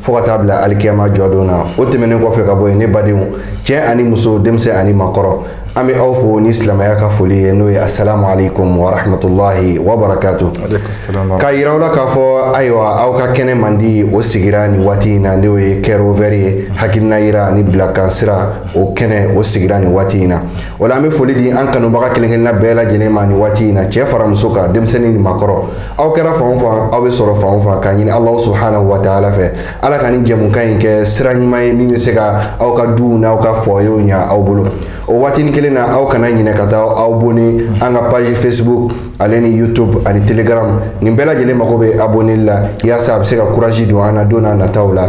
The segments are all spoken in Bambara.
fo ka taa bila alikiyama jɔdon na o tɛmɛnen kɔfɛ ka bɔ yen ne badenw cɛ ani muso denmisɛn ani makɔrɔ an bɛ aw fo ni silamɛya ka foli ye n'o ye asalamu alaikum warahmatulahi wabarakatu k'a yira aw la k'a fɔ ayiwa aw ka kɛnɛ mandi o sigira nin waati in na n'o ye kɛrovɛri ye hakilina yira ani bilakan sira o kɛnɛ o sigira nin waati in na o la an bɛ foli di an kanubaga kelen kelenna bɛɛ lajɛlen ma nin waati in na cɛ fara muso kan denmisɛnnin ni makɔrɔ aw kɛra fan o fan aw bɛ sɔrɔ fan o fan k'a ɲini alahu subhanahu wa taala fɛ ala ka nin jɛmukan in kɛ sira ɲuman ye min bɛ se ka aw ka duw n'aw ka fɔyew ɲa aw bolo o waatini kelen na aw kana ɲinɛ ka taa aw abonner an ka page facebook ale ni youtube ani telegram nin bɛɛ lajɛlen mago bɛ aboneli la yaasa a bɛ se ka kuraji don an na don n'a nataw la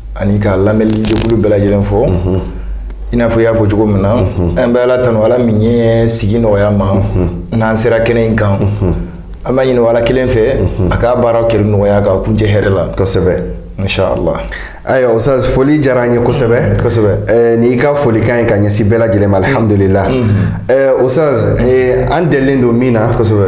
ani ka lamɛnlijɛkulu bɛɛ lajɛlen fo i n'a fɔ i y'a fɔ cogo min na an bɛ ala tanu ala min ye sigi nɔgɔya an ma n'an sera kɛnɛ in kan an b'a ɲini ala kelen fɛ a k'a baara kɛli nɔgɔya k'a kuncɛ hɛrɛ la kosɛbɛ inshallah ayiwa ustaz foli diyara an ye kosɛbɛ mm, kosɛbɛ eh, ni i ka folikan ye ka ɲɛsin bɛɛ lajɛlen ma mm. alhamdulila mm. eh, ustaz eh, an delilen don min na kosɛbɛ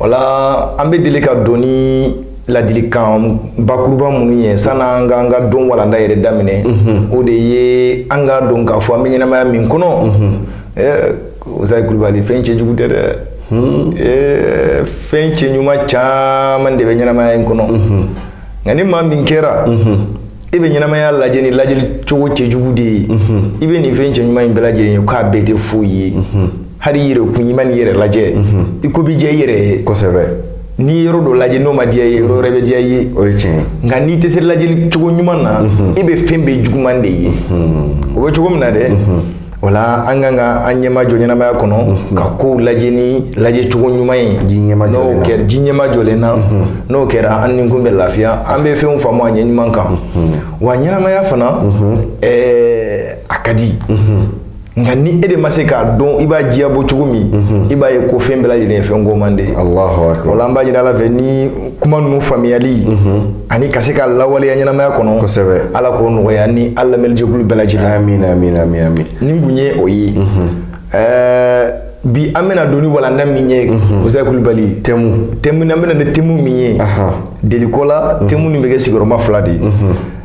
wala an bɛ deli ka don ni ladilikan bakuruba minnu ye san'an ka an ka don walanda yɛrɛ daminɛ mhm. o de ye an k'a dɔn k'a fɔ an bɛ ɲɛnamaya min kɔnɔ mhm. eh, usayi kulubali fɛn cɛjugu tɛ dɛ hmm. eh, fɛn cɛɲuman caman de bɛ ɲɛnamaya in kɔnɔ mhm. nka ni maa min kɛra i bɛ ɲɛnamaya lajɛ ni lajɛli cogo cɛjugu de ye i bɛ nin fɛn cɛɲuman in bɛɛ lajɛlen ye k'a bɛɛ tɛ foyi ye hali i yɛrɛkun i man'i yɛrɛ lajɛ i ko bɛ diya i yɛrɛ ye kosɛbɛ n'i ye yɔrɔ dɔ lajɛ n'o ma diya i ye yɔrɔ wɛrɛ bɛ diya i ye o ye tiɲɛ ye nka n'i tɛ se lajɛli cogo ɲuman na i bɛ fɛn bɛɛ juguman de ye o bɛ cogo min na dɛ o la an ka kan ka an ɲɛma jɔ ɲɛnamaya kɔnɔ ka kow lajɛ ni lajɛ cogo ɲuman ye n'o kɛra ji ɲɛma jɔlen na n'o kɛra an nikun bɛ lafiya an bɛ fɛnw faamu a ɲɛ ɲuman kan wa ɲɛnamaya fana ɛɛ a ka di nka ni e de ma se k'a dɔn i b'a diya bɔ cogo min mhm. i b'a ye ko fɛn bɛɛ lajɛlen ye fɛn goman de ye o la an b'a ɲini ala fɛ nin kuma ninnu faamuyali mhm. ani ka se k'a lawaleya ɲɛnamaya kɔnɔ kosɛbɛ ala k'o nɔgɔya an ni an lamɛnlijɛkulu bɛɛ lajɛlen amin amin amin amin nin kun ye o ye mhm. ɛɛ bi an bɛna don ni walanda min ye musa kulubali tɛmu tɛmu an bɛ na ni tɛmu min ye deliko la tɛmu nin bɛ kɛ sigiyɔrɔma fila de ye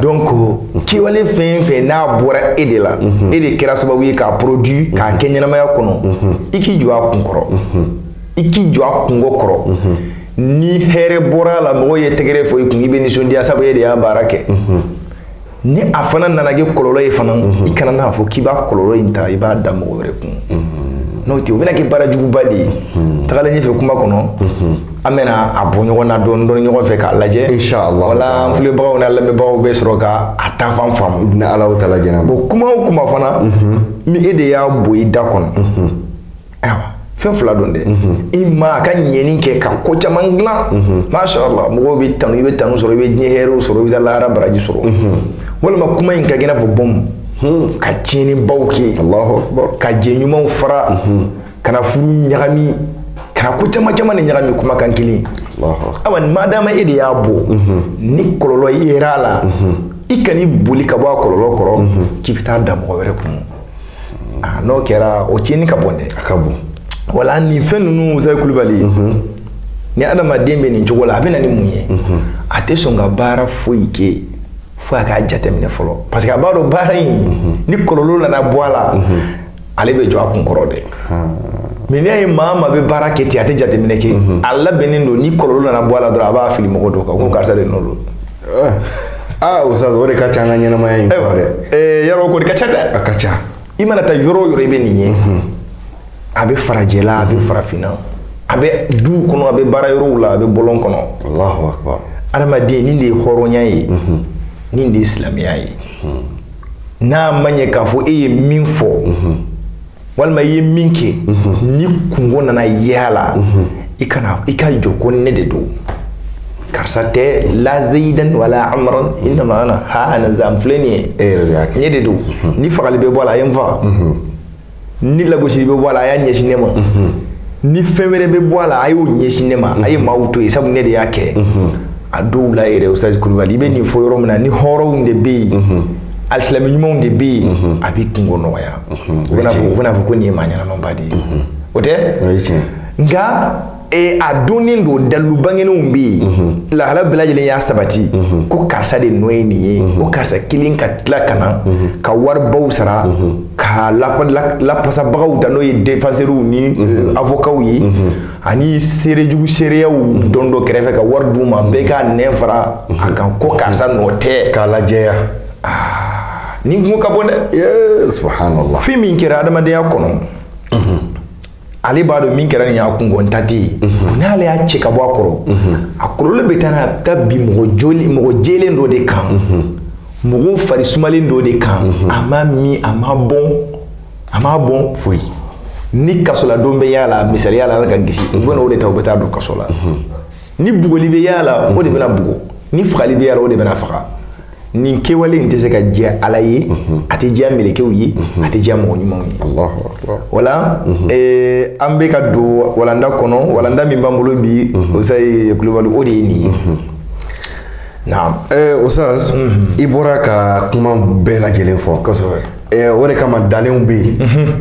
donc kewale fɛn fɛn n'a bɔra e de la mhm. e de kɛra sababu ye k'a produit mhm. k'a kɛ ɲɛnamaya kɔnɔ mhm. i k'i jɔ a kun kɔrɔ i k'i jɔ a kunko kɔrɔ ni hɛrɛ bɔra a la mɔgɔw ye tɛgɛrɛ fɔ i kun i bɛ nisɔndiya sabu e de y'a baara kɛ ni a fana nana kɛ kɔlɔlɔ ye fana i kana n'a fɔ k'i b'a kɔlɔlɔ in ta i b'a da mɔgɔ wɛrɛ kun n'o tɛ o bɛna kɛ baara juguba de ye tagalen ɲɛfɛ kuma kɔnɔ an bɛna a bɔ ɲɔgɔn na dɔɔni dɔɔni ɲɔgɔn fɛ k'a lajɛ inshallah wala an filɛbagaw n'an lamɛnbagaw bɛ sɔrɔ ka a taafan faamu ni alahu taala jɛnna bon kuma o kuma fana mhm. ni e de y'a bɔ i da kɔnɔ mhm. ayiwa fɛn fila don dɛ mhm. imma a ka ɲɛni kɛ ka ko caman dilan mashallah mɔgɔw b'i tanu i bɛ tanu sɔrɔ i bɛ diɲɛ hɛrɛw sɔrɔ i bɛ taa lahara baraji sɔrɔ walima kuma in ka kɛ i n'a fɔ bɔmu ka tiɲɛnibaw kɛ ka jɛ ɲumanw fara ka na furu ɲagami ka na ko caman caman de ɲagami kumakan kelen awa ma dama e de y'a bɔ ni kɔlɔlɔ yera a la i kan'i boli ka bɔ a kɔlɔlɔ kɔrɔ k'i bɛ taa da mɔgɔ wɛrɛ kun n'o kɛra o tiɲɛni ka bon dɛ a ka bon wala nin fɛn ninnu Ustaz Kulubali ni adamaden bɛ nin cogo la a bɛ na ni mun ye a tɛ sɔn ka baara foyi kɛ fo a k'a jateminɛ fɔlɔ parce que a b'a dɔn baara in ni kɔlɔlɔ nana bɔ a la ale bɛ jɔ a kun kɔrɔ dɛ mais n'i y'a ye maa maa bɛ baara kɛ ten a tɛ jateminɛ kɛ mhm. a labɛnnen don ni kɔlɔlɔ nana bɔ a la dɔrɔn a b'a fili mɔgɔ dɔ kan ko mhm. karisa de nɔ don eh. aa ah, Ustaz o de ka ca an ka ɲɛnamaya in kɔnɔ dɛ eh, yɔrɔ k'o de ka ca dɛ a ka ca i mana taa yɔrɔ o yɔrɔ i bɛ nin ye mhm. a bɛ farajɛla a bɛ farafinna a bɛ duw kɔnɔ a bɛ baara yɔrɔw la a bɛ bɔlɔn kɔnɔ adamaden nin de ye hɔrɔnya ye nin de ye silamɛya ye n'a ma ɲɛ k'a fɔ e ye min fɔ walima i ye min kɛ ni kungo nana ye a la i kana i ka jɔ ko ne de don karisa tɛ la zeyidan wala amaran innama ana ha ana za n filɛ nin ye e yɛrɛ de y'a kɛ ne de don ni fagali bɛ bɔ a la a ye n faga ni lagosili bɛ bɔ a la a y'a ɲɛsin ne ma ni fɛn wɛrɛ bɛ bɔ a la a y'o ɲɛsin ne ma a ye maaw to yen sabu ne de y'a kɛ a dɔw la yɛrɛ Ustaz Kulubali i bɛ nin fɔ yɔrɔ min na ni hɔrɔnw de bɛ yen alisilamɛ ɲumanw de bɛ yen a b'i kungo nɔgɔya u bɛna fɔ u bɛna fɔ ko nin ye maa ɲɛnamaba de ye o tɛ nka ee a donnen don dalilu bangenenw bɛ yen mhm. lahala bɛɛ lajɛlen y'a sabati mhm. ko karisa de nɔ ye nin ye mhm. ko karisa kelen ka tila ka na ka waribaw sara ka lapasabagaw ta n'o ye defansɛriw ni euh, avokaw ye ani seerejugu seereyaw dɔn dɔ kɛrɛfɛ ka wari d'u ma bɛɛ ka nɛn fara a kan ko karisa nɔ tɛ k'a lajɛya ah, nin kungo ka bon dɛ subhanallah fɛn min kɛra adamadenya kɔnɔ ale b'a dɔn min kɛra nin y'a kungo ta tɛ yen n'ale y'a cɛ ka bɔ a kɔrɔ a kɔlɔlɔ bɛ taa n'a bɛ taa bin mɔgɔ joli mɔgɔ jɛlen dɔ de kan mɔgɔ farisumalen dɔ de kan a ma min a ma bɔn a ma bɔn foyi ni kasoladon bɛ y'a la misaliya la ala k'an kisi u bɛna o de ta u bɛ taa don kaso la ni bugɔli bɛ y'a la o de bɛna bugɔ ni fagali bɛ y'a la o de bɛna faga nin kɛwale in tɛ se ka diya ala ye a tɛ diya mɛlɛkɛw ye a tɛ diya mɔgɔ ɲumanw ye wala eh, an bɛ ka don walanda kɔnɔ walanda min b'an bolo bi ustaz kulubali o de ye nin ye naam eh, ustaz i bɔra ka kuma bɛɛ lajɛlen fɔ kosɛbɛ eh, o de kama ntalenw bɛ yen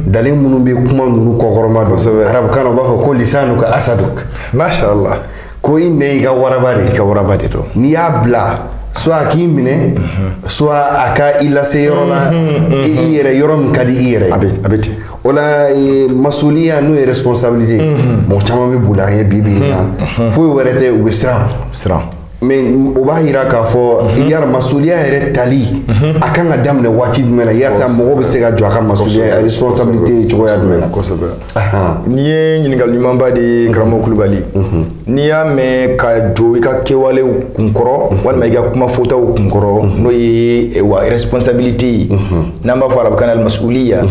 ntalen minnu bɛ kuma ninnu kɔkɔrɔmadon arabukan na u b'a fɔ ko lisanuka asaduk mashallah ko i nɛn i ka waraba de don n'i y'a bila soit a k'i minɛ soit a ka i lase yɔrɔ la i yɛrɛ yɔrɔ min ka di i yɛrɛ ye a bɛ ten o la masuliya n'o ye responsabilité mɔgɔ caman bɛ boli a ɲɛ bi bi in na foyi wɛrɛ tɛ u bɛ siran mais o b'a yira k'a fɔ yala masuliya yɛrɛ tali a kan ka daminɛ waati jumɛn na yaasa mɔgɔ bɛ se ka jɔ a ka masuliya responsabilité ye cogoya jumɛn na kosɛbɛ nin ye ɲininkali ɲumanba de ye karamɔgɔ kulubali n'i y'a mɛn ka jɔ i ka kɛwalew kunkɔrɔ walima i ka kuma fɔtaw kunkɔrɔ n'o ye eh, wa responsabilité ye n'an b'a fɔ arabukan na almasuliya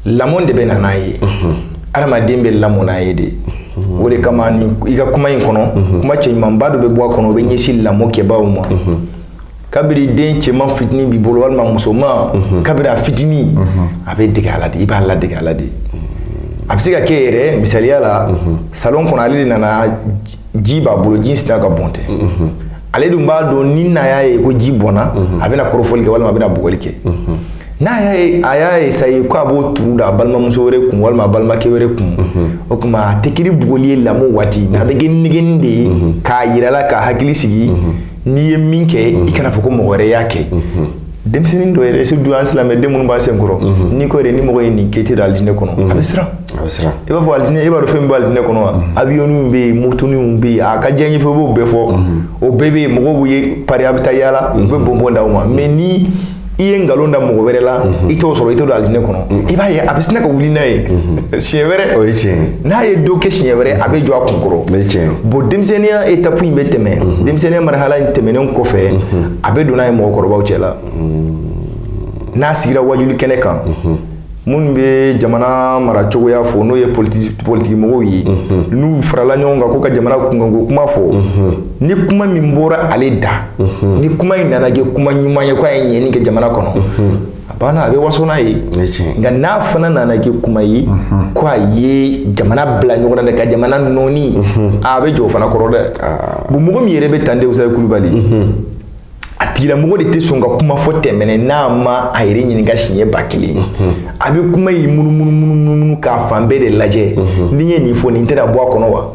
lamɔ de bɛ na n'a ye adamaden bɛ lamɔ n'a ye de o de kama nin i ka kuma in kɔnɔ kuma cɛɲumanba dɔ bɛ bɔ a kɔnɔ o bɛ ɲɛsin lamɔ kɛbaaw ma kabiri den cɛman fitini b'i bolo walima musoman mhm. kabiri a fitini mhm. a bɛ dege a la de i b'a ladege a la de a bɛ se ka kɛ yɛrɛ misaliya la mhm. salon kɔnɔ ale de nana ji b'a bolo ji sina ka bɔn tɛ ale dun b'a dɔn ni n'a y'a ye ko ji bɔnna a bɛna kɔrɔfɔli kɛ walima a bɛna bugɔli kɛ n'a y'a ye a y'a essayer ko a b'o turu da a balimamuso wɛrɛ kun walima a balimakɛ wɛrɛ kun o tuma a tɛ kɛ ni bugɔli ye lamɔ waati mais a bɛ kɛ nɛgɛnni de ye k'a yir'a la k'a hakili sigi n'i ye min kɛ i kana fɔ ko mɔgɔ wɛrɛ y'a kɛ denmisɛnnin dɔ yɛrɛ surtout an silamɛden minnu b'an senkɔrɔ n'i ko yɛrɛ ni mɔgɔ ye nin kɛ i tɛ don alijinɛ kɔnɔ a bɛ siran i b'a fɔ alijinɛ i b'a dɔn fɛn min bɛ alijinɛ kɔnɔ wa awiyɔniw bɛ yen motoniw bɛ yen a ka diyanyefɛnw i b'o bɛɛ fɔ o bɛɛ bɛ yen mɔgɔw b'u yɛrɛ pari a bɛ taa yaala u bɛ bɔnbɔn d'aw ma mais ni i ye nkalon da mɔgɔ wɛrɛ la i t'o sɔrɔ i tɛ don alijinɛ kɔnɔ i b'a ye a bɛ sina ka wuli n'a ye siɲɛ wɛrɛ o ye tiɲɛ ye n'a ye dɔ kɛ siɲɛ wɛrɛ a bɛ jɔ a kunkɔrɔ o ye tiɲɛ ye bon denmisɛnninya etapu in bɛ tɛmɛ denmisɛnninya marhala in tɛmɛnen kɔfɛ a bɛ don n'a ye mɔgɔkɔrɔbaw cɛ la n'a sigira waajuli kɛnɛ kan minnu bɛ jamana mara cogoya fɔ n'o ye politikimɔgɔw ye n'u farala ɲɔgɔn kan k'u ka jamana kunkanko kuma fɔ ni kuma min bɔra ale da ni kuma in nana kɛ kuma ɲuman ye k'a ye ɲɛni kɛ jamana kɔnɔ a banna a bɛ waso n'a ye nka n'a fana nana kɛ kuma ye ko a ye jamana bila ɲɔgɔn na dɛ ka jamana nɔɔni a bɛ jɔ o fana kɔrɔ dɛ bon mɔgɔ min yɛrɛ bɛ tan de ustaz Kulubali a tigilamɔgɔ de tɛ sɔn ka kuma fɔ tɛmɛnɛ n'a ma a yɛrɛ ɲininka siɲɛ ba kelen a bɛ kuma in munumunumunu k'a fan bɛɛ de lajɛ ni n ye nin fɔ nin tɛna bɔ a kɔnɔ wa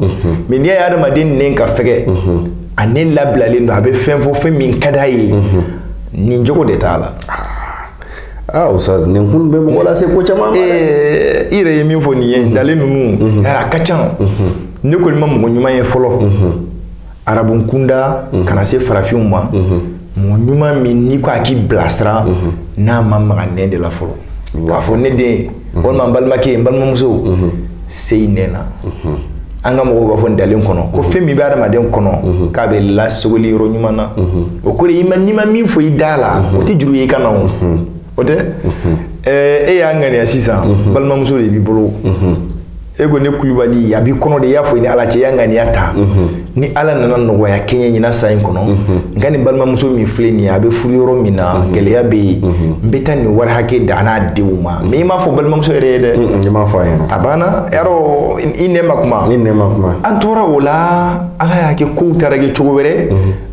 mɛ n'i y'a ye adamaden nɛn ka fɛgɛ a nɛn labilalen don a bɛ fɛn fɔ fɛn min ka d'a ye nin jogo de t'a la aa ah, ustaz nin kun bɛ mɔgɔ lase ko caman ma dɛ eh, i yɛrɛ ye min fɔ nin ye dalen ninnu yara a ka ca ne kɔni ma mɔgɔ ɲuman ye fɔlɔ arabun kunda mhm. kana se farafinw ma mhm. mɔgɔ ɲuman min n'i ko a k'i bilasira mhm. n'a ma maga nɛn de la fɔlɔ k'a fɔ ne den walima n balimakɛ n balimamuso se i nɛn na an ka mɔgɔw b'a fɔ ntalen kɔnɔ ko fɛn min bɛ adamaden kɔnɔ k'a bɛ lasogoli yɔrɔ ɲuman na o kɔrɔ i ma n'i ma min fɔ i da la o tɛ juru ye i kan na o o tɛ e y'a ŋaniya sisan balimamuso de b'i bolo e ko ne kulubali a b'i kɔnɔ de i y'a fɔ i ni ala cɛ y'a ŋaniya ta mhm. ni ala nana nɔgɔya kɛ n ye ɲinan san in kɔnɔ mhm. n ka nin balimamuso min filɛ nin ye a bɛ furu yɔrɔ min na mhm. gɛlɛya bɛ yen n bɛ taa nin wari hakɛ d'a n'a denw ma mɛ i m'a fɔ balimamuso yɛrɛ ye dɛ i m'a fɔ a ɲɛna a banna yarɔ i nɛn ma kuma i nɛn ma kuma an tora o la ala y'a kɛ kow taara kɛ cogo wɛrɛ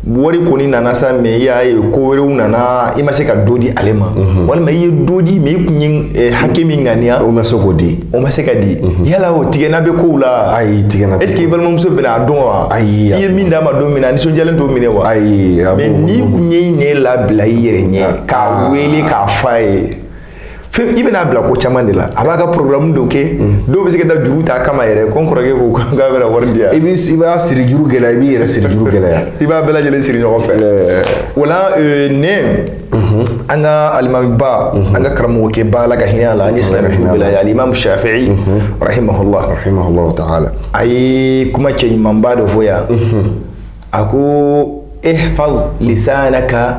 wari kɔni nana sa mɛ i y'a ye ko wɛrɛw nana i ma se ka dɔ di ale ma mhm. walima i ye dɔ di mɛ i tun ye eh, hakɛ min ŋaniya o ma se k'o di o ma se ka di mhm. yala o tigɛnna bɛ kow la ayi tigɛnna est ce que i balimamuso bɛna a dɔn wa ayi i ye min d'a ma don min na a nisɔndiyalen t'o minɛ wa ayi mɛ n'i tun y'i nɛn labila i yɛrɛ ɲɛ k'a ah. wele k'a fɔ a ye fɛn i bɛn'a bila ko caman de la a b'a ka programme dɔw kɛ dɔw bɛ se ka taa juru ta kama yɛrɛ ko n kɔrɔkɛ ko k'a bɛna wari di yan i b'i i b'a siri juru gɛlɛya i b'i yɛrɛ siri juru gɛlɛya i b'a bɛɛ lajɛlen siri ɲɔgɔn fɛ o la ne an ka alimamiba an ka karamɔgɔkɛba ala ka hinɛ a la ani silamɛ su bɛɛ la ye alimamu shafi'i rahimahullah rahimahullah ta'ala a ye kuma cɛɲumanba dɔ fɔ yan a ko ihfaz lisanaka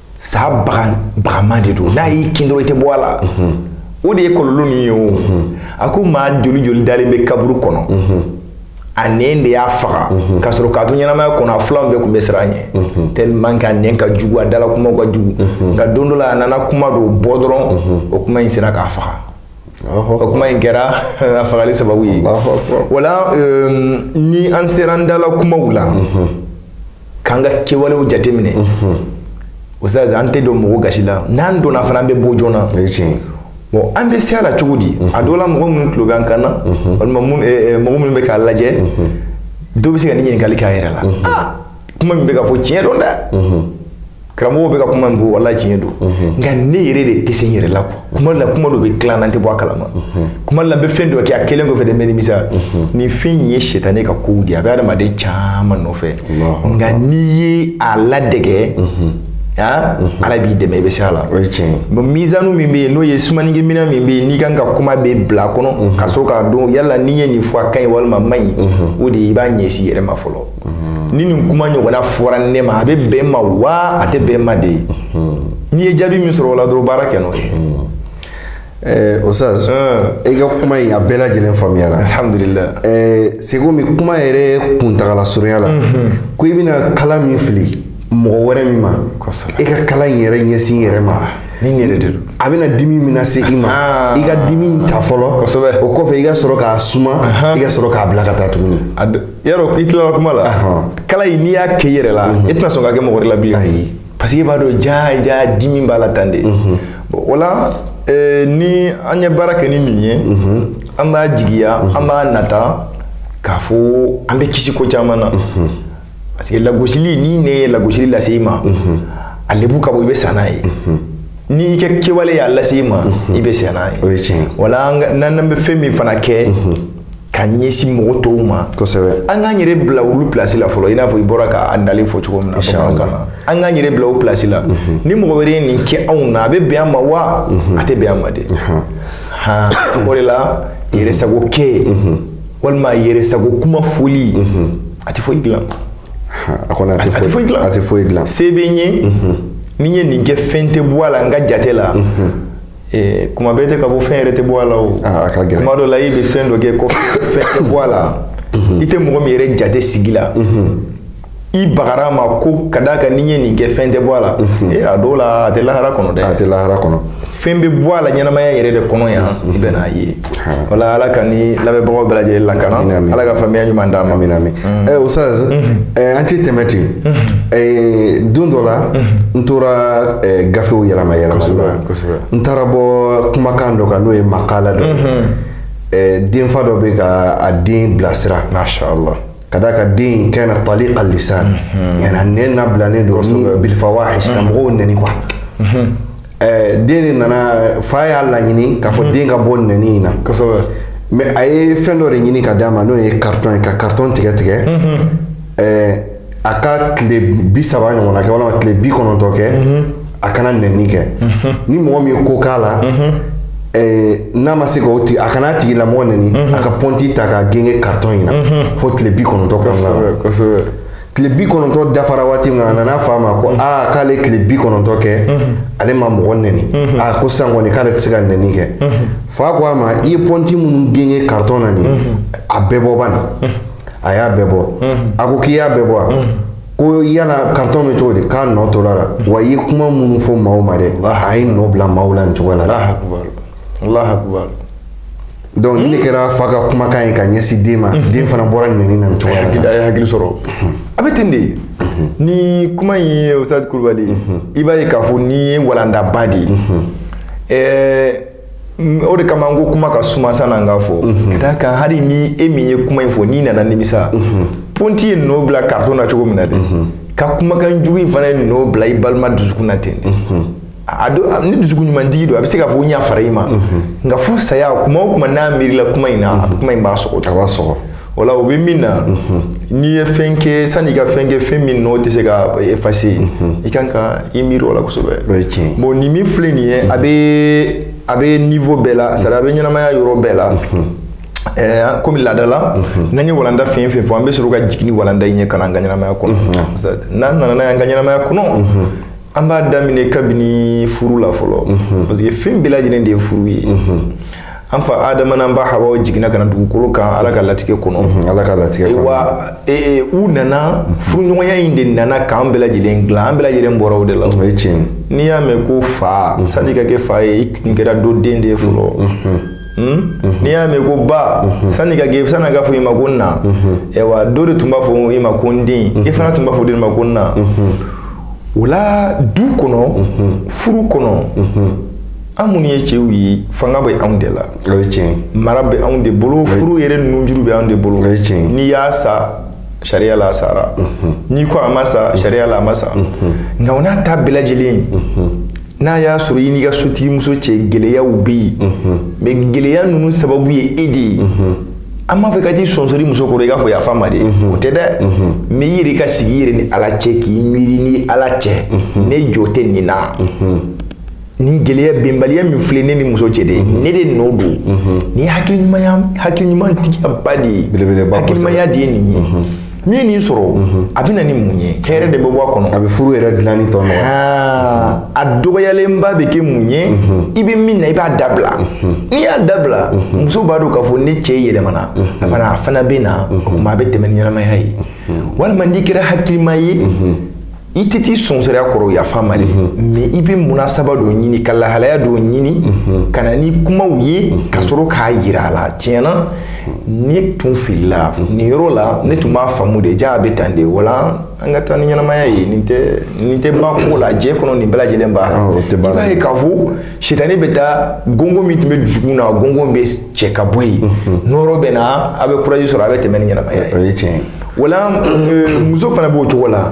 saba bagama de don n'a y'i kin dɔrɔn i tɛ bɔ a la o de ye kɔlɔlɔ ninnu ye o a ko maa joli joli dalen bɛ kaburu kɔnɔ a nɛn de y'a faga ka sɔrɔ k'a to ɲɛnamaya kɔnɔ a filanw bɛɛ tun bɛ siran a ɲɛ tellement que a nɛn ka jugu a dala kumaw ka jugu nka don dɔ la a nana kuma dɔ bɔ dɔrɔn o kuma in sera k'a faga o kuma in kɛra a fagali sababu ye wala euh, ni an sera an dala kumaw la k'an ka kɛwalew jateminɛ ustaz an tɛ don mɔgɔ gasi la n'an donna fana an bɛ bɔ joona bon an bɛ se a la cogo di a dɔ la mɔgɔ minnu tulo bɛ an kan na walima mɔgɔ minnu bɛ k'a lajɛ dɔ bɛ se ka nin ɲininkali k'a yɛrɛ la kuma min bɛ ka fɔ tiɲɛ don dɛ karamɔgɔ bɛ ka kuma min fɔ wala tiɲɛ don nka ne yɛrɛ de tɛ se n yɛrɛ la quoi kuma la kuma dɔ bɛ tila n na n tɛ bɔ a kalama kuma la n bɛ fɛn dɔ kɛ a kɛlen kɔfɛ de n bɛ nimisa nin fɛn in ye sitane ka kow de ye a bɛ adamaden caman nɔfɛ nka n'i ye a ladege ah, ala b'i dɛmɛ i bɛ se a la o ye tiɲɛ ye bon mizanu min bɛ yen n'o ye sumanikɛminɛn min bɛ yen n'i kan ka kuma bɛɛ bila a kɔnɔ ka sɔrɔ k'a dɔn yala n'i ye nin fɔ a ka ɲi walima a man ɲi o de ye i b'a ɲɛsin i yɛrɛ ma fɔlɔ ni nin kuma ɲɔgɔnna fɔra ne ma a bɛ bɛn n ma wa a tɛ bɛn n ma dɛ n'i ye jaabi min sɔrɔ o la dɔrɔn baara kɛ n'o ye. Eh, Oustaz eh. i ka kuma in a bɛɛ lajɛlen faamuyara alhamdulila eh, c'est comme kuma yɛrɛ kuntagala surunya la mhm. ko i bɛna kala min fili mɔgɔ wɛrɛ min ma i ka kala in yɛrɛ ɲɛsin i yɛrɛ ma ni n yɛrɛ de don a bɛna dimi min lase i ma ah. i ka dimi ta fɔlɔ o kɔfɛ i ka sɔrɔ k'a suma i ka sɔrɔ k'a bila ka taa tuguni yarɔ i tilala kuma la kala in n'i y'a kɛ i yɛrɛ la i tɛna sɔn k'a kɛ mɔgɔ wɛrɛ la bilen parce que i b'a dɔn jaa jaa dimi b'a la tan dɛ o la eh, ni an ye baara kɛ ni nin ye an b'a jigiya an b'a nata k'a fɔ an bɛ kisi ko caman na parce que lagosili n'i nɛn ye lagosili lase i ma a lebu ka bon i bɛ sa n'a ye n'i ka kɛwale y'a lase i ma i bɛ sa n'a ye wala n'an bɛ fɛn min fana kɛ ka ɲɛsin mɔgɔ tɔw ma kosɛbɛ an k'an yɛrɛ bila olu pilasi la fɔlɔ i n'a fɔ i bɔra ka ntalen fɔ cogo min na an k'an yɛrɛ bila o pilasi la mhm. ni mɔgɔ wɛrɛ ye nin kɛ anw na a bɛ bɛn an ma wa mhm. a tɛ bɛn an ma dɛ o de la yɛrɛ sago kɛ mhm. walima yɛrɛ sago kuma foli a tɛ foyi dilan a kɔni a tɛ foyi dilan a tɛ foyi dilan se bɛ n ye ni n ye nin kɛ fɛn tɛ bɔ a la n ka jate la ee kuma bɛɛ tɛ ka bɔ fɛn yɛrɛ tɛ bɔ a la o ah, a ka gɛlɛn kuma dɔ la i bɛ fɛn dɔ kɛ ko fɛn tɛ bɔ a la mhm. i tɛ mɔgɔ min yɛrɛ jate sigi la mhm. i bagara a ma ko ka d'a kan n'i ye nin kɛ fɛn tɛ bɔ a la mhm. ee a dɔw la a tɛ lahara kɔnɔ dɛ a tɛ lahara kɔnɔ fɛn bɛ bɔ a la ɲɛnamaya yɛrɛ de kɔnɔ yan i bɛ n'a ye o la ala k'an ni lamɛnbagaw bɛɛ lajɛlen lakana ala ka faamuya ɲuman d'an ma amina amin mm. eh, Oustaz mm-hmm. eh, an ti tɛmɛ ten mm-hmm. eh, don dɔ la mm-hmm. n tora eh, gafew yɛlɛma yɛlɛma n taara bɔ kumakan dɔ kan n'o ye makala dɔ eh, denfa dɔ bɛ ka a den bilasira mashallah ka d'a kan den kana taliq al-lisan yani nɛn nabilalen don ni bilfawahish ka mɔgɔw nɛni quoi den de nana fa y'a laɲini k'a fɔ den ka bɔ nɛni in na mais a ye fɛn dɔ de ɲini ka d'a ma n'o ye karitɔn ye ka karitɔn tigɛ tigɛ a ka tile bi saba ɲɔgɔnna kɛ walima tile bi kɔnɔntɔn kɛ a kana nɛni kɛ ni mɔgɔ min ye ko k'a la n'a ma se k'o tigi a kana tigilamɔgɔ nɛni a ka pɔnti ta k'a gengen karitɔn in na fo tile bi kɔnɔntɔn kɔnɔna na tile bi kɔnɔntɔ dafara waati min a nana fa ma ko aa k'ale tile bi kɔnɔntɔ kɛ ale ma mɔgɔ nɛni aa ko sisan kɔni k'ale tɛ se ka nɛni kɛ fa ko a ma i ye pɔnti minnu gengen karitɔn na nin a bɛɛ bɔ bani a y'a bɛɛ bɔ a ko k'i y'a bɛɛ bɔ wa ko yala karitɔn bɛ cogo di k'a nɔ tora a la wa i ye kuma minnu fɔ maaw ma dɛ a ye nɔ bila maaw la nin cogo la. donc nin kɛra fa ka kumakan ye ka ɲɛsin den ma den fana bɔra nɛni na nin cogo la a ye hakili sɔrɔ a bɛ ten de ni kuma in ye Oustaz Kulubali i b'a ye k'a fɔ nin ye walandaba de ye o de kama n ko kuma ka suma san'an k'a fɔ ka d'a kan hali ni e min ye kuma in fɔ n'i nana nimisa pɔnti ye nɔ bila karitɔn na cogo min na de ka kumakan jugu in fana ye nɔ bila i balima dusukun na ten de a do ni dusukun ɲumantigi don a bɛ se k'a fɔ n yafara i ma nka fo saya kuma o kuma n'a miirila kuma in na a kuma in b'a sɔgɔ a b'a sɔgɔ o la o bɛ min na n'i ye fɛn kɛ sanni i ka fɛn kɛ fɛn min n'o tɛ se ka effacer i kan ka i miiri o la kosɛbɛ o ye tiɲɛ ye bon nin min filɛ nin ye a bɛ a bɛ niveau bɛɛ la c'est-à-dire a bɛ ɲɛnamaya yɔrɔ bɛɛ la ɛɛ komi laada la n'an ye walanda fɛn fɛn fɔ an bɛ sɔrɔ ka jigin ni walanda in ye ka na an ka ɲɛnamaya kɔnɔ n'an nana n'a ye an ka ɲɛnamaya kɔnɔ an b'a daminɛ kabini furu la fɔlɔ mhm. parce que fɛn bɛɛ lajɛlen de ye furu ye mhm. an fa adama n'an ba hawa jiginna ka na dugukolo kan ala ka latigɛ kɔnɔ mhm, ala ka latigɛ kɔnɔ wa e, e, u nana furuɲɔgɔnya in de nana k'an bɛɛ lajɛlen dilan an bɛɛ lajɛlen bɔra o de la o ye tiɲɛ n'i y'a mɛn ko fa sani ka kɛ fa ye i tun kɛra dɔ den de ye fɔlɔ Hmm? Mhm. n'i y'a mɛn ko ba mhm. sani ka kɛ sani ka fɔ i ma ko n na mhm. ayiwa dɔ de tun b'a fɔ i ma ko n den i fana tun b'a fɔ dɔ ma ko n na o la du kɔnɔ furu kɔnɔ an minnu ye cɛw ye fanga bɛ anw de la o ye tiɲɛ mara bɛ anw de bolo furu yɛrɛ nunjuru bɛ anw de bolo o ye tiɲɛ n'i y'a sa sariya la a sara n'i ko a ma sa sariya la a ma sa nka o n'a ta bɛɛ lajɛlen n'a y'a sɔrɔ i n'i ka sotigimuso cɛ gɛlɛyaw bɛ yen mais gɛlɛya ninnu sababu ye e de ye an m'a fɔ ka t'i sɔnsɔri muso kɔrɔ i k'a fɔ yafa n ma dɛ o tɛ dɛ mais i yɛrɛ ka sigi i yɛrɛ ni ala cɛ k'i miiri ni ala cɛ ne jo tɛ nin na nin gɛlɛya bɛnbaliya min filɛ ne ni muso cɛ de ne de nɔ don nin hakiliɲumanya hakiliɲumantigiyaba de ye hakilimaya de ye nin ye n'i ye nin sɔrɔ mhm. a bɛ na ni mun ye hɛrɛ de bɛ bɔ a kɔnɔ a bɛ furu yɛrɛ dilanni tɔ nɔgɔya ah, a dɔgɔyalenba bɛ kɛ mun ye mhm. i bɛ min na i b'a dabila mhm. n'i y'a dabila muso b'a dɔn k'a fɔ ne cɛ yɛlɛmana a fana a fana bɛ na o tuma a bɛ tɛmɛ ni ɲɛnamaya ye walima n'i kɛra hakilima ye i tɛ t'i sonsoro a kɔrɔ yafa ma de mais i bɛ munasaba dɔ ɲini ka lahalaya dɔ ɲini ka na ni kumaw ye ka sɔrɔ k'a yira a la tiɲɛna ne tun filila nin yɔrɔ la ne tun b'a faamu de ja a bɛ tan de wala an ka taa ni ɲɛnamaya ye nin tɛ nin tɛ ban ko la diɲɛ kɔnɔ nin bɛɛ lajɛlen b'a la i b'a ye k'a fɔ sitani bɛ taa gɔngɔn min tun bɛ dusukun na gɔngɔn bɛ cɛ ka bɔ yen nɔɔrɔ bɛ na a bɛ kuraji sɔrɔ a bɛ tɛmɛ ni ɲɛnamaya ye o ye tiɲɛ ye wala euh, muso fana b'o cogo la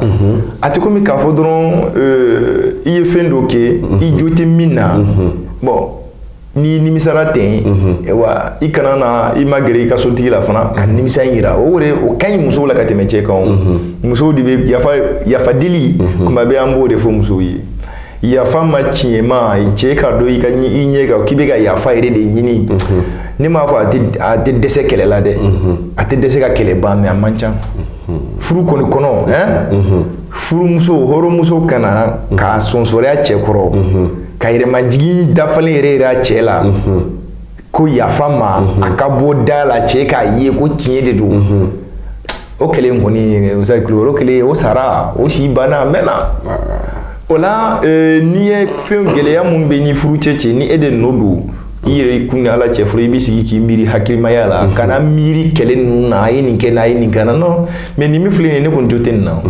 a tɛ komi k'a fɔ dɔrɔn euh, i ye fɛn dɔ kɛ i jo tɛ min na bon n'i nimisara ten wa i kana na i magɛrɛ i ka sotigi la fana ka nimisa in yira o yɛrɛ o ka ɲi musow la ka tɛmɛ cɛ kan o musow de bɛ yafa yafa dili kuma bɛɛ an b'o de fɔ musow ye yafa ma tiɲɛma cɛ k'a dɔn i ɲɛ kan k'i bɛ ka yafa yɛrɛ de ɲini ne m'a fɔ a tɛ dɛsɛ kɛlɛ la dɛ a tɛ dɛsɛ ka kɛlɛ ban mais a man ca furu kɔni kɔnɔ furumuso hɔrɔnmuso ka na k'a sonsoro a cɛ kɔrɔ ka yɛrɛmajigin dafalen yɛrɛ yira a cɛ la ko yafa ma mhm. a ka bɔ da la cɛ k'a ye ko tiɲɛ de don mhm. o kɛlen kɔni usazi kulubali o kɛlen o sara o si banna a mɛnna o la e, n'i ye fɛn gɛlɛya min bɛ ni furucɛ cɛ ni e de nɔ don i yɛrɛkun ni ala cɛ fɔlɔ i bɛ sigi k'i miiri hakilimaya la mhm. kana miiri kɛlɛ ninnu na a ye nin kɛ na a ye nin kɛ na non mais nin min filɛ nin ye ne kɔni jo tɛ nin na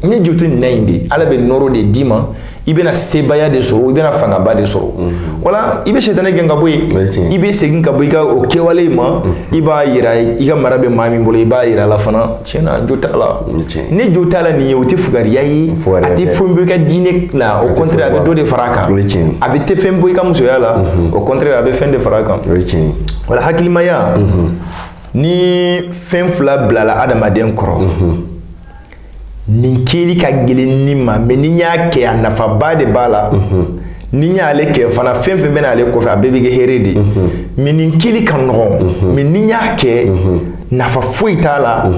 ne jo tɛ nin na in de ala bɛ nɔɔrɔ de d'i ma i bɛna sebaaya de sɔrɔ i bɛna fangaba de sɔrɔ mhm. wala i bɛ sɛtanɛ gɛn ka bɔ yen i bɛ segin ka bɔ i ka o kɛwale in ma mhm. i b'a yira i ka mara bɛ maa min bolo i b'a yira a la fana tiɲɛna jo t'a la ne jo t'a la nin ye o tɛ fugariya ye a tɛ fɛn bɔ i ka diinɛ la au contraire a bɛ dɔ de fara a kan a bɛ tɛ fɛn bɔ i ka musoya la mhm. au contraire a bɛ fɛn de fara a kan wala hakilimaya ni fɛn fila bilala adamaden kɔrɔ nin kɛli ka gɛlɛn ni ma mais ni n y'a kɛ a nafaba de b'a la mhm. ni n y'ale kɛ fana fɛn fɛn bɛna ale kɔfɛ a bɛɛ bɛ kɛ hɛrɛ de mhm. mais nin kɛli ka nɔgɔn mhm. mais ni n y'a kɛ nafa foyi t'a la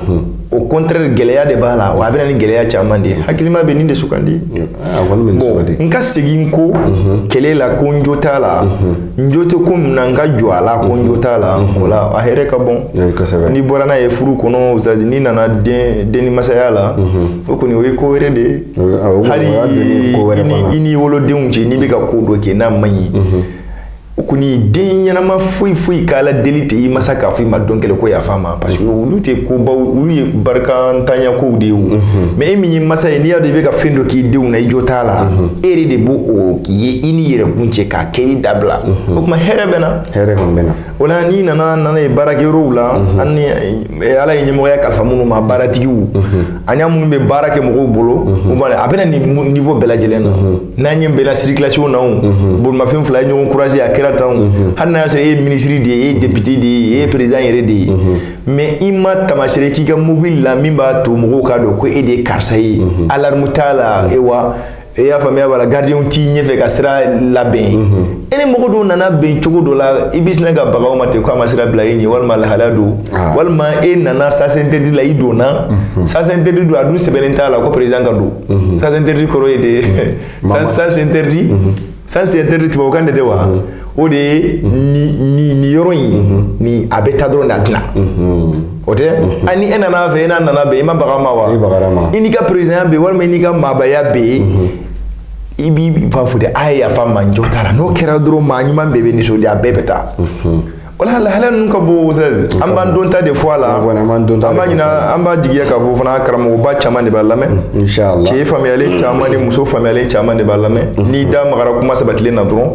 au contraire gɛlɛya de b'a la wa a bɛna ni gɛlɛya caman de ye hakilima bɛ nin de sugandi bon, n ka segin ko mhm. kɛlɛ la ko n jo t'a la mhm. n jo tɛ ko min na n ka jɔ a la ko n jo t'a la mhm. o la a hɛrɛ ka bon n'i bɔra n'a ye furu kɔnɔ usazi n'i nana den ni masaya la o kɔni o ye ko wɛrɛ de ye hali i n'i wolodenw cɛ n'i bɛ ka ko dɔ kɛ n'a man ɲi o kɔni den ɲɛnama foyi foyi k'a la deli tɛ i masa k'a fɔ i ma don kelen ko yafa ma parce que olu tɛ kobaw olu ye barikantanya kow de ye o mais e min ye masa ye n'i y'a dɔn i bɛ ka fɛn dɔ k'i denw na i jo t'a la e yɛrɛ de b'o o k'i ye i ni yɛrɛkun cɛ k'a kɛli dabila o tuma hɛrɛ bɛ na hɛrɛ kɔni bɛ na o la n'i nana n'a ye baarakɛyɔrɔw la ani ala ye ɲɛmɔgɔya kalifa minnu ma baaratigiw ani minnu bɛ baara kɛ mɔgɔw bolo u b'a a bɛna nin niveau bɛɛ lajɛlen na n'an ɲɛ bɛnna circulation na o bolimafɛn fila ye ɲɔgɔn croisé a kɛra tan o hali n'a y'a sɔrɔ e ye minisiri de ye e ye député de ye e ye président yɛrɛ de ye mais i ma taamasere k'i ka mobili la min b'a to mɔgɔw k'a dɔn ko e de ye karisa ye alarme t'a la e wa e y'a faamuya b'a la garidiɲɛw t'i ɲɛfɛ ka sira labɛn mhm. e ni mɔgɔ dɔw nana bɛn cogo dɔ la i bɛ sin ka baga o ma ten k'a ma sira bila e ɲɛ walima lahalaya don ah. walima e nana sens interdit la i donna mhm. sens interdit don a dun sɛbɛnnen t'a la ko président ka don mhm. sens interdit kɔrɔ ye de sens interdit sens interdit tubabukan de tɛ wa o de ye nin yɔrɔ in ni a bɛ taa dɔrɔn de a tɛ na o tɛ a ni e nana fɛ e n'a nana bɛn i ma baga ma wa i n'i ka perezidanya bɛ yen walima i n'i ka maabaya bɛ yen i b'i b'a fɔ de a ye yafa ma n jo t'a la n'o kɛra dɔrɔn maa ɲuman bɛɛ bɛ nisɔndiya a bɛɛ bɛ taa wala lahala ninnu ka bon usazi an b'an dɔnta de fɔ a la an b'an dɔnta an b'a ɲina an b'a jigiya k'a fɔ fana karamɔgɔba caman de b'a lamɛn mm, inshallah cɛ faamuyalen caman ni muso faamuyalen caman de b'a lamɛn mm, mm, n'i da magara kuma sabatilen na dɔrɔn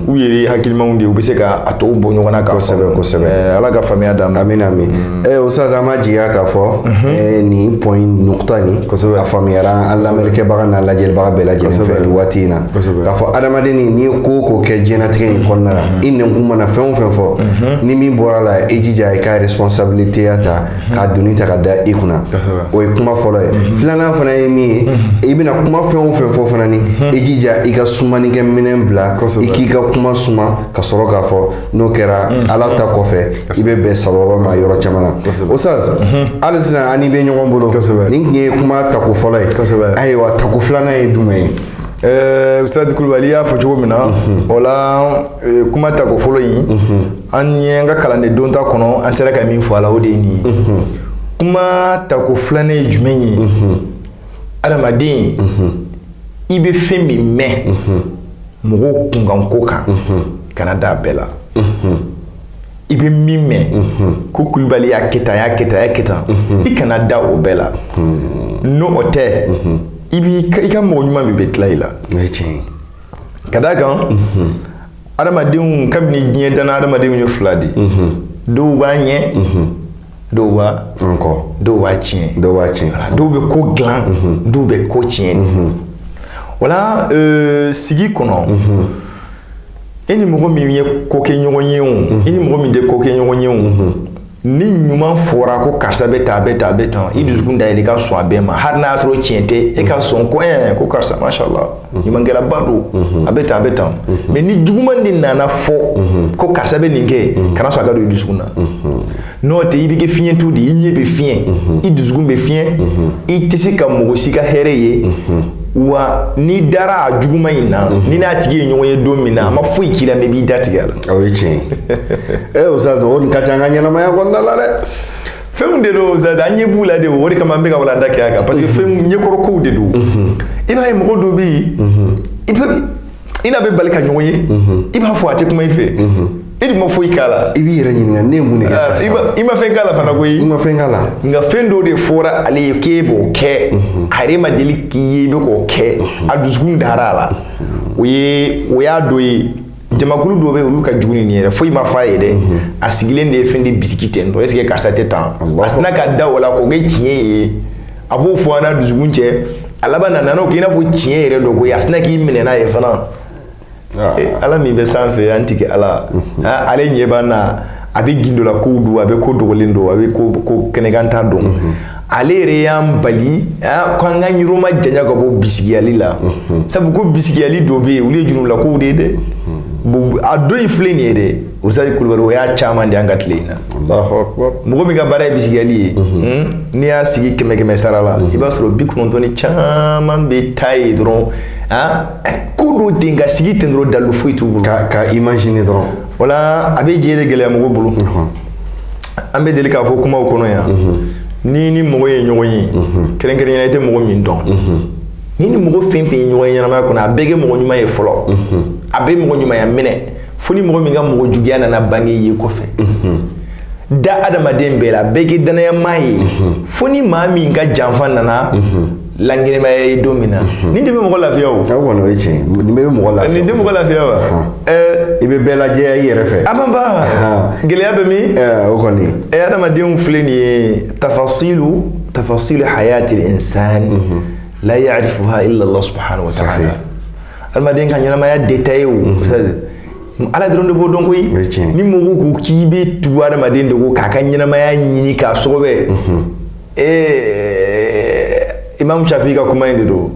u yɛrɛ hakilimaw de u bɛ se ka a tɔw bɔ ɲɔgɔn na k'a kosɛbɛ kosɛbɛ ala ka faamuya d'an ma amin amin Eh, o sisan an b'a jigiya k'a fɔ mhm. eh, nin point in nukuta nin a faamuyara an lamɛnnikɛbaga n'a lajɛlibaga bɛɛ lajɛlen fɛ nin waati in na k'a fɔ adamaden ni n'i ye ko o ko kɛ diɲɛnatigɛ in kɔnɔna la mhm. i nɛnkun mana fɛn o fɛn fɔ mhm. ni min bɔr'a la i jija i ka responsabiliteya ta k'a doni ta ka da i kunna o ye kuma fɔlɔ ye filanan fana ye min ye i bɛna kuma fɛn o fɛn fɔ fana ni i jija i ka sumanikɛminɛn bila i k'i ka kuma suma ka sɔrɔ k'a fɔ n'o kɛra mm. ala ta kɔfɛ i bɛ bɛn sababa ma yɔrɔ caman na usazi mm-hmm. hali sisan an n'i bɛ ɲɔgɔn bolo nin tun ye kuma tako fɔlɔ ye ayiwa tako filanan ye jumɛn ye eh, usazi kulubali y'a fɔ cogo min na mm-hmm. o la eh, kuma tako fɔlɔ in mm-hmm. an ye an ka kalanden dɔnta kɔnɔ an sera ka min fɔ a la o de ye nin ye kuma tako filanan ye jumɛn ye adamaden i bɛ fɛn min mɛn mɔgɔw kunkanko kan kana d'a bɛɛ la i bɛ min mɛn ko kulubali y'a kɛ tan y'a kɛ tan y'a kɛ tan i kana da o bɛɛ la n'o o tɛ i b'i i ka mɔgɔ ɲuman bɛɛ bɛ tila i la ka d'a kan adamadenw kabini diɲɛ danna adamadenw ye fila de dɔw b'a ɲɛ dɔw b'a nkɔ dɔw b'a tiɲɛ dɔw b'a tiɲɛ dɔw bɛ ko dilan mhm. dɔw bɛ ko tiɲɛ mhm. wala euh, sigi kɔnɔ mhm. e ni mɔgɔ min ye ko kɛ ɲɔgɔn ye o e ni mɔgɔ min tɛ ko kɛ ɲɔgɔn ye o ni ɲuman fɔra ko karisa bɛ tan a bɛ tan a bɛ tan i dusukun dayɛlɛ i ka sɔn a bɛɛ ma hali n'a y'a sɔrɔ tiɲɛ tɛ e ka sɔn ko ɛɛ ko karisa masha Allah ɲumankɛlaba don a bɛ tan a bɛ tan mais ni juguman de nana fɔ ko karisa bɛ nin kɛ kana sɔn a ka don i dusukun na n'o tɛ i bɛ kɛ fiɲɛtɔ de ye i ɲɛ bɛ fiɲɛ i dusukun bɛ fiɲɛ i tɛ se ka mɔgɔ si ka hɛrɛ ye wa n'i dara a juguman in na n'i n'a tigi ye ɲɔgɔn ye don min na a ma foyi k'i la mais i b'i da tigɛ a la o ye tiɲɛ ye ee Ustaz o nin ka ca an ka ɲɛnamaya kɔnɔna la dɛ fɛnw de don Ustaz an ɲɛ b'u la de o de kama an bɛ ka walanda kɛ a kan parce que fɛn ɲɛkɔrɔ kow de don i b'a ye mɔgɔ dɔ bɛ yen i n'a bɛ bali ka ɲɔgɔn ye i b'a fɔ a tɛ kuma i fɛ i dun ma foyi k'a la i b'i yɛrɛ ɲininka ne ye mun de kɛ ah, karisa i ma fɛn k'a la fana koyi i ma fɛn k'a la nka fɛn dɔ de fɔra ale ye k'e b'o kɛ a yɛrɛ ma deli k'i ye i bɛ k'o kɛ a dusukun dara a la o ye o y'a dɔ ye jamakulu dɔw bɛ olu ka jugu ni nin yɛrɛ foyi ma f'a ye dɛ mhm. a sigilen de ye fɛn de bisigi ten dɔrɔn est ce que karisa tɛ tan a sinna ka da o la k'o kɛ tiɲɛ ye a b'o fɔ a n'a dusukun cɛ a laban na nana o k'i n'a fɔ tiɲɛ yɛrɛ don koyi a sinna k'i minɛ n'a ye fana ah. eh, ala min bɛ sanfɛ an tigi ala mhm. ah, ale ɲɛ b'an na a bɛ gundo la kow dɔn a bɛ ko dogolen dɔn a bɛ ko kɛnɛkanta dɔn mhm. ale yɛrɛ y'an bali ko an k'an yɔrɔ majanya ka bɔ bisigiyali la sabu ko bisigiyali dɔ bɛ yen olu ye jurumu kow de ye dɛ a dɔ in filɛ nin ye dɛ Ustaz Kulubali o y'a caman de an ka tile in na mɔgɔ min ka baara ye bisigiyali ye n'i y'a sigi kɛmɛ kɛmɛsara la i b'a sɔrɔ bi kɔnɔntɔn ni caman bɛ taa ye dɔrɔn ko dɔ ten ka sigi ten dɔrɔn dalu foyi t'u bolo ka imaginer dɔrɔn wala a bɛ diɲɛ de gɛlɛya mɔgɔ bolo an bɛ deli k'a fɔ kumaw kɔnɔ yan n'i ni mɔgɔ ye ɲɔgɔn ye kɛrɛnkɛrɛnya na i tɛ mɔgɔ min dɔn n'i ni mɔgɔ fɛn fɛn ye ɲɔgɔn ye ɲɛnamaya kɔnɔ a bɛɛ kɛ mɔgɔ ɲuman ye fɔlɔ a bɛɛ mɔgɔ ɲumanya minɛ fo ni mɔgɔ min ka mɔgɔ juguya nana bange i ye kɔfɛ da adamaden bɛɛ la bɛɛ k'i dannayamaa ye fo ni maa min ka janfa nana lankɛnɛmaya i ye don min na mhm. nin de bɛ mɔgɔ lafiya o aw kɔni o ye tiɲɛ ye nin bɛɛ bɛ mɔgɔ lafiya nin tɛ mɔgɔ lafiya wa i bɛ bɛɛ lajɛya i yɛrɛ fɛ a ma ban gɛlɛya bɛ min o kɔni adamadenw filɛ nin ye tafasilu hayati l'insan mhm. la ya'rifuha illa Allah subhanahu wa ta'ala adamaden ka ɲɛnamaya détail o mhm. ala dɔrɔn de b'o dɔn koyi ni mɔgɔw ko k'i bɛ tugu adamaden de kɔ k'a ka ɲɛnamaya ɲini k'a sɔgɔbɛ ee imam shafi ka kuma in de don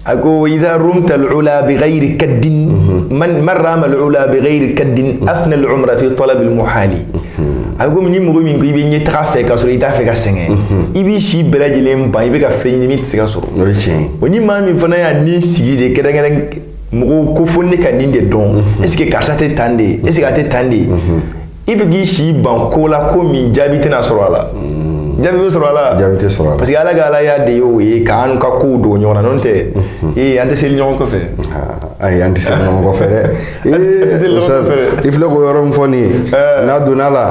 a ko idha rumta al'ula bi ghairi kaddin man man rama al'ula bi ghairi kaddin afna al'umra fi talab al-muhali a ko ni mɔgɔ min ko i bɛ ɲɛtaga fɛ k'a sɔrɔ i t'a fɛ ka sɛgɛn i b'i si bɛɛ lajɛlen ban i bɛ ka fɛn ɲini min tɛ se ka sɔrɔ o ye tiɲɛ ye o ni maa min fana y'a ni sigi de kɛrɛnkɛrɛn mɔgɔw ko fo ne ka nin de dɔn est ce que karisa tɛ tan de ye est ce que a tɛ tan de ye i bɛ k'i si ban ko la ko min jaabi tɛna sɔrɔ a la mm. jaabi bɛ sɔrɔ a la jaabi tɛ sɔrɔ a la parce que ala ka alaya de ye o ye k'an ka kow dogo ɲɔgɔn na n'o tɛ mm-hmm. ee an tɛ seli ɲɔgɔn kɔfɛ ah, ayi an tɛ seli ɲɔgɔn kɔfɛ dɛ ee i filɛ k'o yɔrɔ min fɔ nin ye eh. n'a dɔnna a la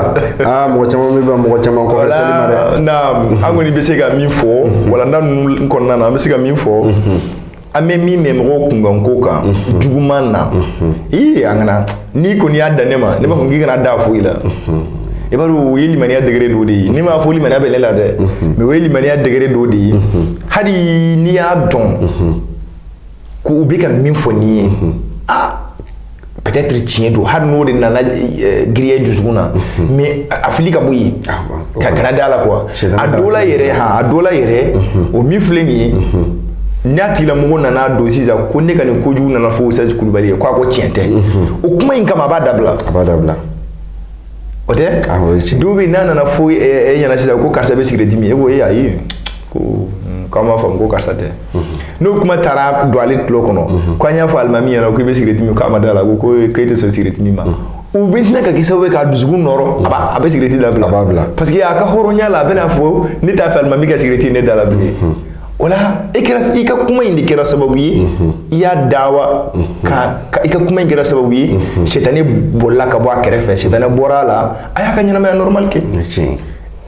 aa ah, mɔgɔ caman bɛ ban mɔgɔ caman kɔfɛ seli ma dɛ naam an kɔni bɛ se ka min fɔ mm-hmm. walanda ninnu kɔnɔna na an bɛ se ka min fɔ mm-hmm. an bɛ min mɛn mɔgɔw kunkanko kan mhm. juguman na mhm. ii an kana n'i kɔni y'a dan ne ma ne b'a fɔ k'i kana da foyi la mhm. i b'a dɔn o ye limaniya degré dɔ de ye ne m'a fɔ limaniya bɛ ne la dɛ mais o ye limaniya degré dɔ de ye hali n'i y'a dɔn ko u bɛ ka min fɔ nin ye aa peut-être tiɲɛ don hali n'o de nana euh, giriya dusukun na mhm. mais a fili ka bɔ yen ah, ka kana da la quoi a dɔ la yɛrɛ ha a dɔ la yɛrɛ mhm. o min filɛ nin ye mhm. n'a tigilamɔgɔ nana dɔn sisan ko ne ka nin kojugu nana fɔ ustaz kulubali ye ko a ko tiɲɛ tɛ o kuma in kama a b'a dabila a b'a dabila o tɛ ah, dɔw bɛ yen n'a nana fɔ e eh, eh, ɲɛna sisan ko karisa bɛ sigirɛti min e ko e ayi ko hmm, k'an b'a faamu ko karisa tɛ mhm. n'o kuma taara don ale tulo kɔnɔ mhm. ko an y'a fɔ alimami ɲɛna k'i bɛ sigirɛti min k'a ma da la ko ko e tɛ sɔn sigirɛti min ma mhm. o bɛ tila ka kɛ sababu ye k'a dusukun nɔɔrɔ a b'a a bɛ sigirɛti dabila a b'a bila parce que a ka hɔrɔnya la a bɛna fɔ ne t'a fɛ alimami ka sigirɛti ye ne da la bilen o la e kɛra i ka kuma in de kɛra sababu ye i y'a dawa ka i ka kuma in kɛra sababu ye sitani bolila ka bɔ a kɛrɛfɛ sitani bɔra a la a y'a ka ɲɛnamaya normal kɛ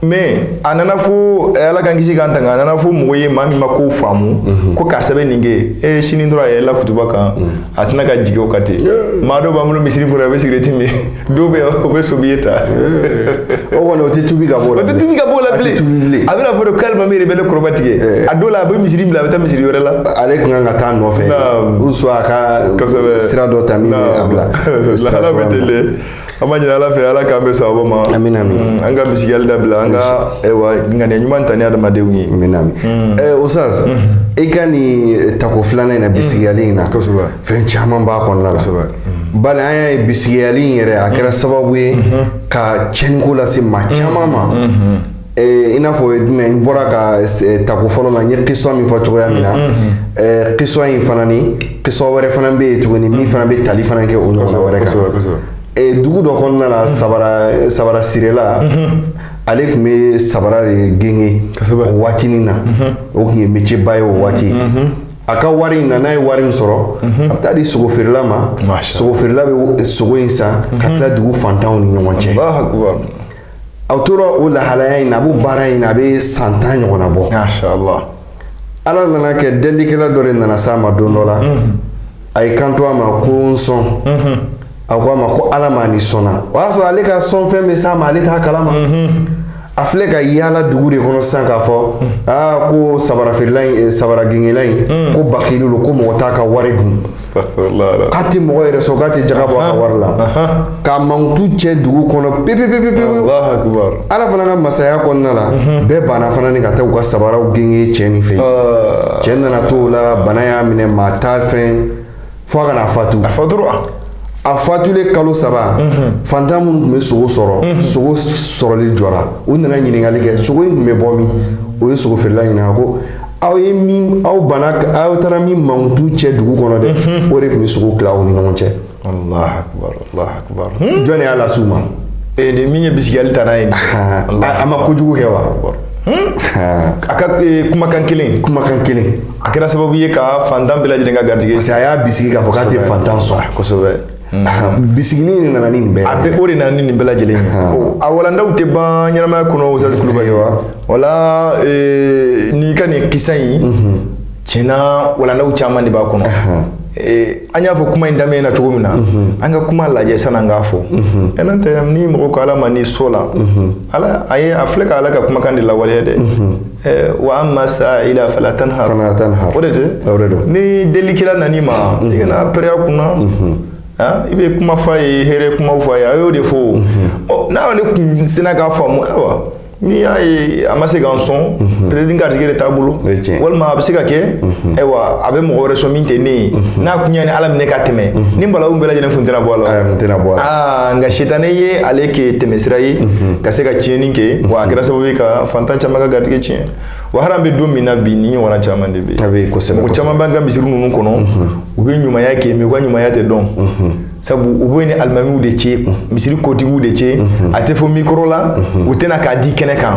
mais a nana fɔ eh, ala k'an kisi k'an tanga a nana fɔ mɔgɔ ye maa min ma kow faamu mhm. ko karisa bɛ nin kɛ e sini dɔrɔn a yɛlɛla kutuba kan mhm. a sinna ka jigin o kan ten maa dɔ b'an bolo misiri kɔnɔ a bɛ sigirɛti min dɔw bɛ yen o bɛ sobi ye ta o kɔni o tɛ tubi ka bɔ la o tɛ tubi ka bɔ la bilen a bɛna fɔ de k'alimami yɛrɛ bɛ ne kɔrɔmatigɛ a dɔw la a bɛ misiri bila a bɛ taa misiri wɛrɛ la ale tun kan ka taa nɔfɛ ou soit a ka sira dɔ ta min bɛ a bila lahala bɛ ten de an b'a ɲini ala fɛ ala k'an bɛn sawaba ma amin amin mm, an ka bisigiyali dabila an ka ayiwa ŋaniya ɲuman ta ni adamadenw ye amin amin mm. eh, ustaz mm. i ka nin tako filanan in na bisigiyali in na fɛn caman b'a kɔnɔna la bali an y'a ye bisigiyali in yɛrɛ a kɛra sababu ye ka tiɲɛniko lase maa caman ma i n'a fɔ o ye jumɛn n bɔra ka tako fɔlɔ la n ye kisɔn min fɔ cogoya min na kisɔn in fana ni kisɔn wɛrɛ fana bɛ yen tuguni min fana bɛ tali fana kɛ o ɲɔgɔnna wɛrɛ kan dugu dɔ kɔnɔna la sabara sabara sirila ale tun bɛ sabara de gengen o waatinin na o tun ye métier ba ye o waati a ka wari in na n'a ye wari in sɔrɔ a bɛ taa di sogo feerela ma Masha sogo feerela bɛ sogo in san ka tila dugu fantanw ni ɲɔgɔn cɛ Allahu akbar. a tora o lahalaya in na a b'o baara in na a bɛ san tan ɲɔgɔnna bɔ Masha Allah. ala nana kɛ delikɛla dɔ de nana s'a ma don dɔ la a ye kanto a ma ko n sɔn a ko a ma ko ala ma ni sɔnna o y'a sɔrɔ ale ka sɔnfɛn bɛ s'a ma ale t'a kalama mhm. a filɛ ka yaala dugu de kɔnɔ sisan k'a fɔ mhm. aa ko sabara feerela in eh, sabara gengela in mhm. ko bakili don ko mɔgɔ t'a ka wari dun k'a tɛ mɔgɔ yɛrɛ sɔn k'a tɛ jaga bɔ a ka wari la k'a mankutu cɛ dugu kɔnɔ pepepepepewu ala fana ka masaya kɔnɔna la bɛɛ banna fana ni ka taa u ka sabaraw genge cɛ nin fɛ ah. cɛ nana to o la bana y'a minɛ maa t'a fɛ fo a ka na fatu a fatura a fatulen kalo saba fantan minnu tun bɛ sogo sɔrɔ sogo sɔrɔli jɔra u nana ɲininkali kɛ sogo in tun bɛ bɔ min u ye sogo feerela ɲininka ko aw ye min aw banna aw taara min mankutu cɛ dugu kɔnɔ dɛ o de tun bɛ sogo tila aw ni ɲɔgɔn cɛ allah akbar allah akbar jɔn de y'a lase u ma ee de min ye bisigiyali ta n'a ye nin Ah, ye. a a ma kojugu kɛ wa Akbar. a ka ee, kumakan kelen kumakan kelen a kɛra sababu ye ka fantan bɛɛ lajɛlen ka garijɛgɛ parce que a y'a bisigi k'a fɔ k'a tɛ fantan sɔn kosɛbɛ bisigi nin de nana ni nin bɛɛ a bɛ o de nana ni nin bɛɛ lajɛlen ye a walandaw tɛ ban ɲɛnamaya kɔnɔ Ustaz Kulubali wa wala eh, n'i ka nin kisa in mhm. tiɲɛna walandaw caman de b'a kɔnɔ Eh, an y'a fɔ kuma in daminɛ na cogo min na mhm. an ka kuma lajɛ sani an k'a fɔ mhm. eh, n'o tɛ ni mɔgɔ ko ala ma ni sɔnna mhm. ala a ye a filɛ ka ala ka kumakan de lawaleya dɛ Eh, wa amma sa'ila fala tanhar fala tanhar o de tɛ o de don ni delikɛla nan'i ma mhm. i kana pɛrɛn a kunna mhm. ah, i bɛ kuma fɔ a ye hɛrɛ kumaw fɔ a ye a y'o de fɔ o mhm. oh, n'ale kun sinna k'a faamu ayiwa n'i y'a ye a ma se ka n sɔn peut-être n garijɛgɛ de t'a bolo walima a bɛ se ka kɛ ayiwa a bɛ mɔgɔ wɛrɛ sɔn min tɛ ne ye n'a kun y'a ni ala minɛ ka tɛmɛ nin balawu bɛɛ lajɛlen kun tɛna bɔ a la kun tɛna bɔ a la ah, nka sitanɛ ye ale kɛ tɛmɛsira ye ka se ka tiɲɛni kɛ wa a kɛra sababu ye ka fantan caman ka garijɛgɛ tiɲɛ wa hali an bɛ don min na bi nin ɲɔgɔnna caman de bɛ yen a bɛ kosɛbɛ mɔgɔ caman b'an ka misiri ninnu kɔnɔ mhm. u bɛ ɲumanya kɛ mais u ka ɲumanya tɛ dɔn mhm. sabu u b'u ni alimamiw de cɛ mhm. misiri kotigiw de cɛ a tɛ fɔ mikɔrɔ la u tɛna k'a di kɛnɛ kan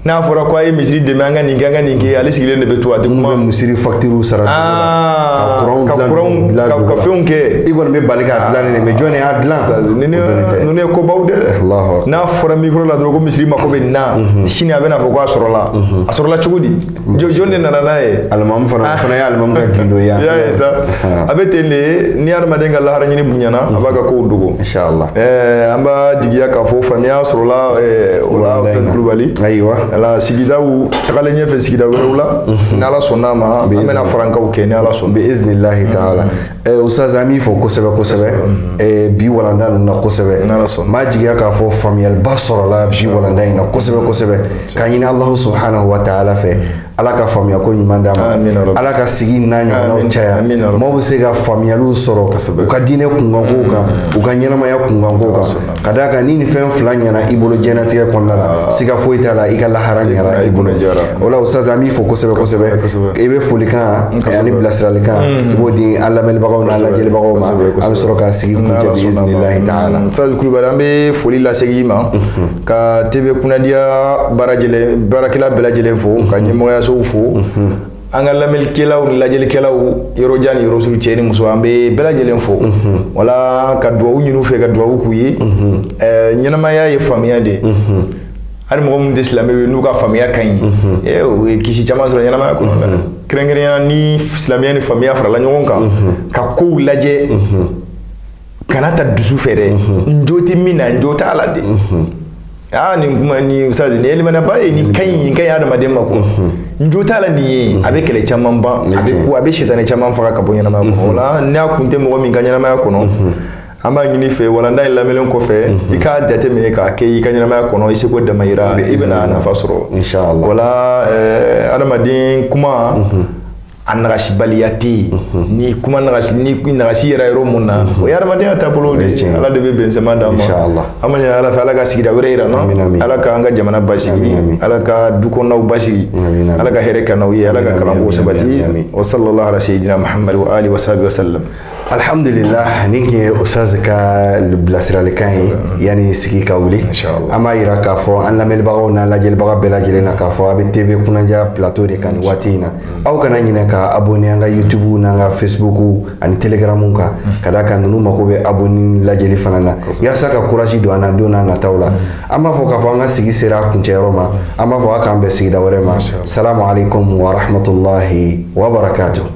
n'a fɔra ko a ye misiri dɛmɛ an ka nin kɛ an ka nin kɛ ale sigilen de bɛ to a tɛ kuma misiri facture sara ah, ka kuranw dilan ka fɛnw kɛ i kɔni bɛ bali k'a dilannen ye mais jɔn de y'a dilan ninnu ye kobaw de dɛ fɔra mikoro la dɔrɔn ko misiri mako bɛ nin na mhm. sini a bɛna fɔ ko a sɔrɔla mhm. a sɔrɔla cogo di mhm. jɔn de nana n'a ye alimamu fana ah. fana ye alimamu ka gindo ye i y'a ye sa a bɛ ten de ni hadamaden ka lahara ɲini bonyana a b'a ka kow dogo inshallah eh, an b'a jigiya k'a fɔ faamuya sɔrɔla eh, o la Ustaz Kulubali ayiwa ala sigidaw tagalen ɲɛfɛ sigida wɛrɛw la ni ala sɔnn'a ma an bɛna farankaw kɛ ni ala sɔnna bi iznillahi taala Eh, Ustaz an b'i fo kosɛbɛ kosɛbɛ eh, bi walanda ninnu na kosɛbɛ n b'a jigiya k'a fɔ faamuyaliba sɔrɔla bi walanda in na kosɛbɛ kosɛbɛ k'a ɲini alahu subhanahu wa taala fɛ ala ka faamuya ko ɲuman d'a ma ala ka sigi n'a ɲɔgɔnnaw caya maaw bɛ se ka faamuyaliw sɔrɔ u ka diinɛ kunkankow kan u ka ɲɛnamaya kunkankow kan ka d'a kan ni nin fɛn fila ɲɛna i bolo diɲɛnatigɛ kɔnɔna la ah. siga foyi t'a la i ka lahara ɲɛna i bolo o la ustaz an b'i fo kosɛbɛ kosɛbɛ i bɛ folikan ani bilasiralikan mm-hmm. i b'o di an lamɛnibagaw n'an lajɛlibagaw ma an bɛ sɔrɔ ka sigi kuncɛ biiznilahi taala mm-hmm. ustaz kulubali an bɛ foli lasegin i ma mm-hmm. ka tv kunnadiya baarakɛla bɛɛ lajɛlen fo ka ɲɛmɔgɔyasow fo an ka lamɛnlikɛlaw ni lajɛlikɛlaw yɔrɔ jan ni yɔrɔ surun cɛ ni muso an bɛ bɛɛ lajɛlen fo mhm. wala ka dugawu ɲini u fɛ ka dugawu k'u ye mhm. eh, ɲɛnamaya ye faamuya de ye mhm. hali mɔgɔ minnu tɛ silamɛ ye n'u ka faamuya ka ɲi eh, u ye kisi caman sɔrɔ ɲɛnamaya kɔnɔ la kɛrɛnkɛrɛnya ni silamɛya ni faamuya farala ɲɔgɔn kan ka kow lajɛ kana taa dusu fɛ dɛ n jo tɛ min na n jo t'a la de aa nin kuma ni sa nin ye limanaba ye nin ka ɲi nin ka ɲi adamaden ma ko n jo t'a la nin ye a bɛ kɛlɛ caman ban a bɛ ko a bɛ sitani caman faga ka bɔ ɲɛnamaya kɔnɔ o la n'a kun tɛ mɔgɔ min ka ɲɛnamaya kɔnɔ an b'a ɲini i fɛ walanda in lamɛnlen kɔfɛ mhm. i k'a jateminɛ k'a kɛ i ka ɲɛnamaya kɔnɔ i seko damayira i bɛna nafa sɔrɔ wala eh, adamaden kuma mhm. a nagasibaliya tɛ yen mhm. ni kuma nagasi ni nagasi yera yɔrɔ min na mhm. o ye hadamadenya taabolo de ye ala de bɛ bɛnsenma d'an ma an b'a ɲini ala fɛ ala ka sigida wɛrɛ yira an na ala k'an ka jamana basigi ala ka dukɔnɔnaw basigi ala ka hɛrɛ k'an n'aw ye ala ka kalanko sabati wa sallallahu ala sayyidina muhammad wa alihi wa sahbihi wa sallam alhamdulillah nin tun ye ustaz ka bilasiralikan ye yanni sigi ka wuli an b'a yira k'a fɔ an lamɛnbagaw n'an lajɛlibaga bɛɛ lajɛlen na k'a fɔ a bɛ tv kunnadiya plateau de kan nin waati in na mm. aw kana ɲinɛ ka abonné an ka youtube n'an ka facebook ani telegramu kan mm. ka d'a kan ninnu mako bɛ abonné lajɛli fana na yaasa ka courage don an na don n'a nataw la mm. an b'a fɔ k'a fɔ an ka sigi sera a kuncɛyɔrɔ ma an b'a fɔ a k'an bɛn sigida wɛrɛ ma salamu alaikum wa rahmatulahi wa barakatuh